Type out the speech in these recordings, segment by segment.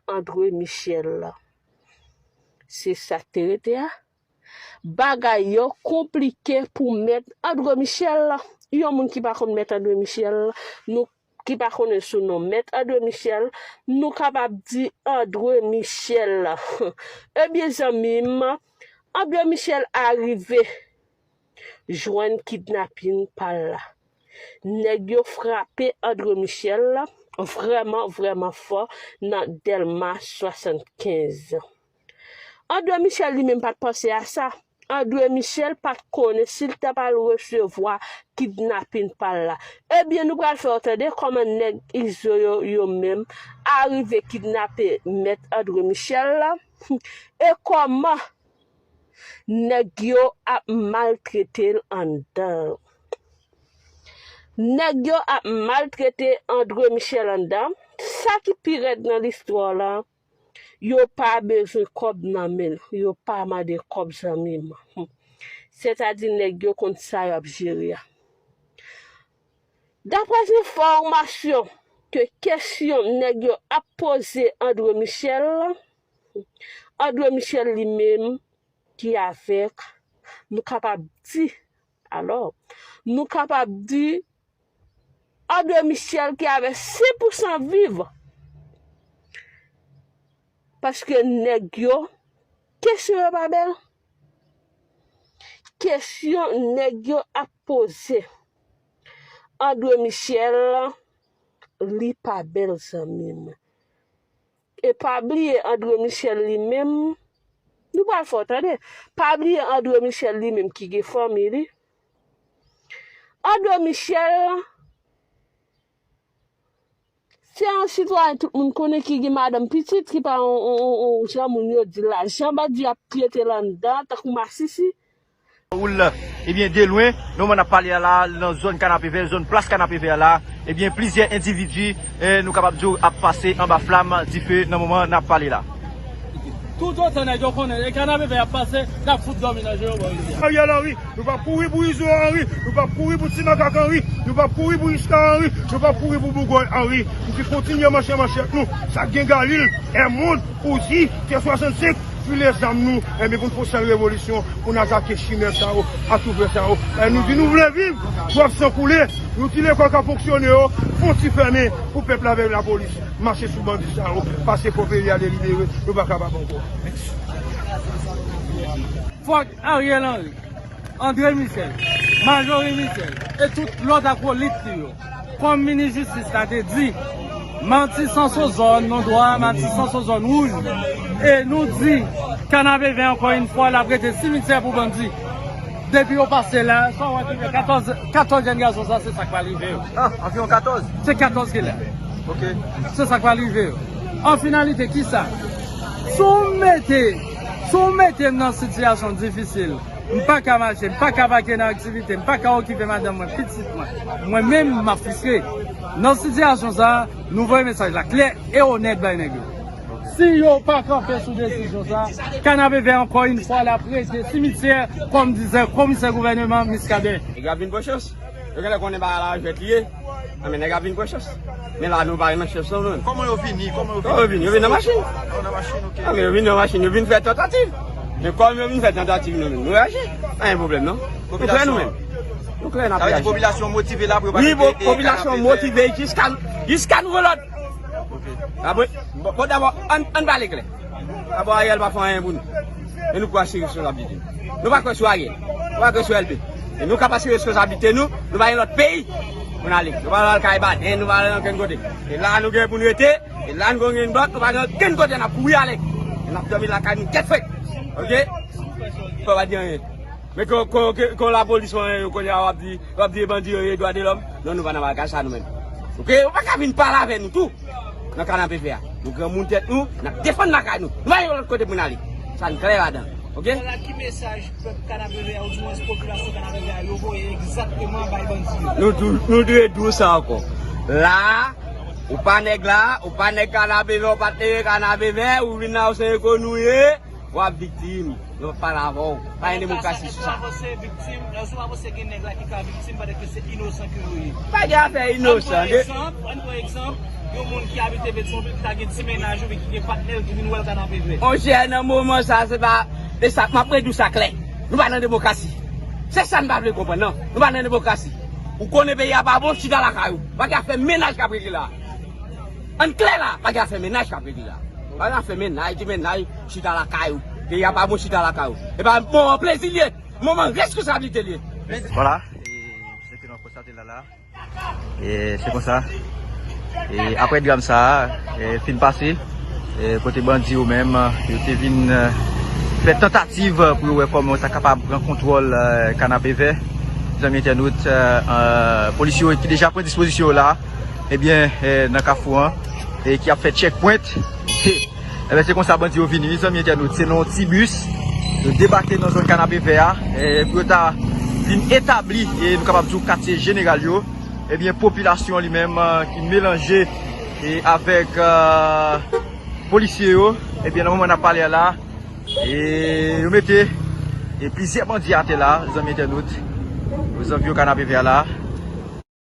André Michel la. Se sa k te rete a. Bagay yo konplike pou mèt André Michel la. Yon moun ki pa konn mèt André Michel la, nou ki pa konnen sou non mèt André Michel, nou kapab di André Michel la. Ebyen zanmi m, André Michel a rive. jwenn kidnapin pa l la. Nèg yo frape Andre Michel vrèman vrèman fò nan Dèlma 75. Andre Michel li menm pat panse a sa. Andre Michel pat konnen si l ta pral resevwa kidnapin pa l la. Ebyen nou pral fè w tande kòman nèg Izo yo yo menm arive kidnape mèt Andre Michel e kòman Nèg yo ap maltretel anndan. Nèg yo ap maltrete Andre Michel anndan, sa ki pi rèd nan listwa la, yo pa bezwen kòb nan menl, yo pa mande kòb zanmim, hum sètadi nèg yo konn sa yap jere a. Daprè zenfòmasyon ke kesyon nèg yo ap poze Andre Michel la. Andre Michel li menm ki avèk, nou kapab di, alò, nou kapab di, Andre Michel ki avèk 100 pou 100 viv, paske nèg yo, kesyon yo pa bèl, kesyon nèg yo ap poze, Andre Michel, li pa bèl zanmi m. E pa bliye Andre Michel li menm, nou pral fò tande, pa bliye Andre Michel li menm ki gen fanmi li, Andre Michel se yon sitwayen tout moun konnen ki gen madanm pitit, ki pa yon jan moun yo di la, jan bandi ap trete l anndan tankou masisi. Raúl la. Ebyen de lwen, nan moman n ap pale a la, nan zòn Kanapevè, zòn plas Kanapevè a la, ebyen plizyè endividi, nou kapab di w, ap pase anba flam, dife, nan moman n ap pale la. Toutotan nèg yo konnen e Kanapevè y ap pase, n ap fout dòmi nan je yo, bò izi a. Ariel Henry, Nou p ap kouri pou Izo Henry, nou p ap kouri pou Ti Makak Henry, nou p ap kouri pou Richka Henry, nou p ap kouri pou Bougòy Henry, pou ki kontinye manche manchèt nou, sa k gen Galil, Èmond, Ouzi, T 65, File zam nou enben pou n fon sèl revolisyon pou n atake chimè sa yo ak toufè sa yo e nou di nou vle viv pou ap san koule nou ti lekòl k ap fonksyone yo fon ti fèmen pou pèp la veye lapolis mache sou bandi sa yo pase fò peyi a delibere nou pa kapab ankò. Fòk Ariel Henry, Andre Michel, Marjorie Michel e tout lòt akolit li yo. Kòm minis jistis la te di, matisan sou zòn nou dwa, matisan sou zòn wouj nou. E nou di Kanaveve ankò yn fwa lap rete simityè pou bandi. Depi yo pase la, sa w wè ki gen 14, 14 jèn gason sa se sa k pral rive yo. Ah, anviwon 14? Se 14 ki la. Ok. Se sa k pral rive yo. An finalite kisa? Si w mete, si w mete m nan sitiyasyon difisil. M pa ka mache, m pa ka vake nan aktivite, m pa ka okipe madanm mwen, pitit mwen. Mwen menm, m ap fristre. Nan sitiyasyon sa a, nou voye mesaj la klè e onèt bay nèg yo. Si yo pa kanpe sou desizyon sa a, Kanapevè ankò yn fwa la prete simityè kòm dizè komisè gouvèneman Miskaden. Nèg yo ap vin pran chans. Yo genlè konnen bagay la jwèt li ye. Nan men nèg ap vin pran chans. Men la nou pa renmen chans non men. Koman yo vini? Koman yo vini? Koman yo vini? Yo vini nan machin. Yo nan machin ok. Nan men yo vini nan machin. Yo vini fè tantativ. Men kòm yo vini fè tantativ nou menm. Nou reyaji. Pa gen pwoblèm non. Nou klè nou menm. Nou klè nan reyaji. Sa vle di popilasyon motive la pou yo pa mete kanapevè. Wi popilasyon motive jiska nouvo lòd. Ok. Bon dabò an pale klè. Abo Ariel pa fè anyen pou nou e nou pou asire responsablite nou. Nou pa kwè sou Ariel, nou pa kwè sou LP. E nou k ap asire responsablite nou, nou pa gen lòt peyi pou n ale. Nou pa pral kay Baden, nou pa pral ankenn kote. E la a nou gen pou n rete, e la a nou konn gen bòt, nou pa gen okenn kote n ap kouri ale. E n ap dòmi lakay nou tèt frèt. Ok? Fò pa di anyen. Men kon lapolis ou anyen yo kounye a wap di wap di e bandi yo ye dwa de lòm non nou pa nan bagay sa nou menm ok ou pa ka vin pale avè nou tou nan kanapevè a nou granmoun tèt nou nap defann lakay nou nou pa gen lòt kote poun ale sa n klè ladan ok. Wala ki mesaj pèp kanapevè a ou di mwens popilasyon kanapevè a yo voye egzakteman bay bandi yo. Nou di nou di e di w sa ankò la ou pa nèg la ou pa nèg kanapevè ou pa t leve kanapevè ou vin la ou se enkonnu ou ye. Wap viktim yo pale avèw pa gen demokrasi sou sa. Èske wap viktim nan sou wap se gen nèg la ki ka viktim pandan ke se inosan ke yo ye. Pa gen afè inosan de. Ann pran egzanp yon moun ki abite petyonvil ki ta gen ti mennaj oubyen ki gen patnèl ki vin wèl ka nan peve. Monchè nan moman sa se pa e sa map redi w sa klè nou pa nan demokrasi se sa n pa vle konprann nan nou pa nan demokrasi ou konnen peyi a pa bon chita lakay ou pa gen afè mennaj kap regle la ann klè la pa gen afè mennaj kap regle la. Al la fè mennaj gen mennaj chita lakay ou peyi a pa bon chita lakay ou epa moman plezi liye moman reskonsablite liye mèsi. Vwala e se te nan konstate lala e se konsa e aprè dram sa e fin pase e kote bandi yo menm yo te vin fè tantativ pou yo wè kòman yo ta kapab pran kontwòl kanapevè zanmi entènot e polisye yo ki deja pran dispozisyon yo la. Ebyen nan kafou an ki ap fè check point Ebyen se konsa bandi yo vini wi zanmi entènot se nan yon ti bus Yo debake nan zòn kanapevè a pou yo ta vin etabli e nou kapab di w katye jeneral yo Ebyen popilasyon li menm ki melanje avèk polisye yo Ebyen nan moman n ap pale a la yo mete plizyè bandi atè la zanmi entènot Ozanvi w kanapevè a la.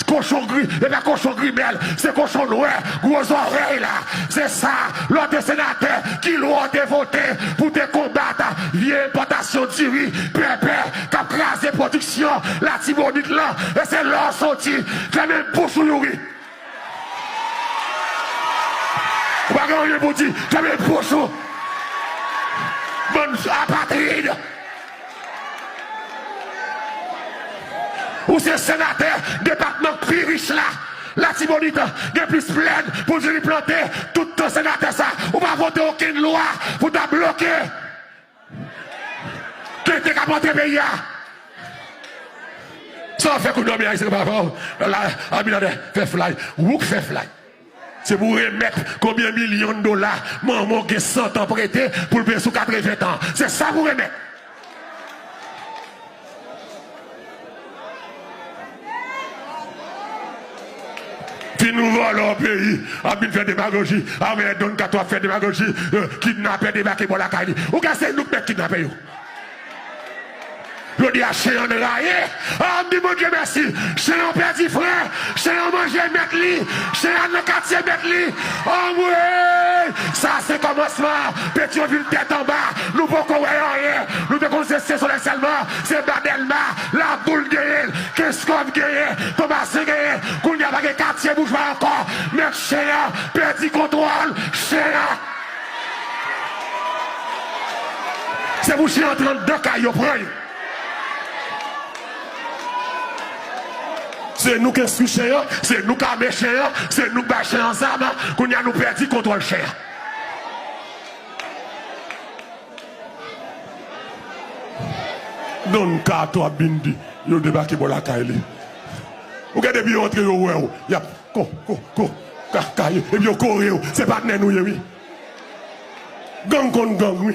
T kochon gri epa kochon grimèl se kochon nwè gwo zòrèy la se sa lò te senatè ki lwa w te vote pou te konbat vye enpòtasyon diri pèpè kap kraze pwodiksyon latibonit lan e se lò w soti fèmen bouch ou youri ou pa gen anyen pou di fèmen bouch ou bann apatrid. Ou se senatè depatman k pi rich la latibonit gen plis plèn poul vini plante tout tan senatè sa ou pa vote okenn lwa pou ta bloke tenten kap antre peyi a sa wap fè kou dòmi ayisyen pa vè w la abinader fè flay ou k fè flay. Se pou remèt konbyen milyon dola manman w gen santan prete pou l peye sou katreven tan. Se sa pou remèt. Ti nou vòlò peyi ap vin fè demagoji avè don kato ap fè demagoji kidnapè debake bò lakay li ou kwè se nou k mèt kidnapè yo. Jodi a chen an rayi, a m di Bondye mèsi. Chen an pèdi frè, chen an manje mèt li, chen an nan katye mèt li. Anmweyy! Sa se kòmansman an. Petyonvil tèt anba, nou poko wè anyen. Nou te konn se Sensolèy sèlman, se ba Dèlma, Laboul genyen l, Kenskòf genyen, Tomasen genyen. Kounye a pa gen katye boujwa ankò. Mèt chen an pèdi kontwòl chen an. Se pou si yo antre anndan kay yo pran yo. Se nou k enstwi chen an, se nou k ame chen an, se nou k bay chen an zam, kounye a nou pèdi kontwòl chen an. Don Kato ak Bindi yo debake bò lakay li. Ou gen depi yo antre yo wè w, y ap. Ko ko ko ka ka ye epi yo kore yo se patnè nou ye wi gang konn gang wi.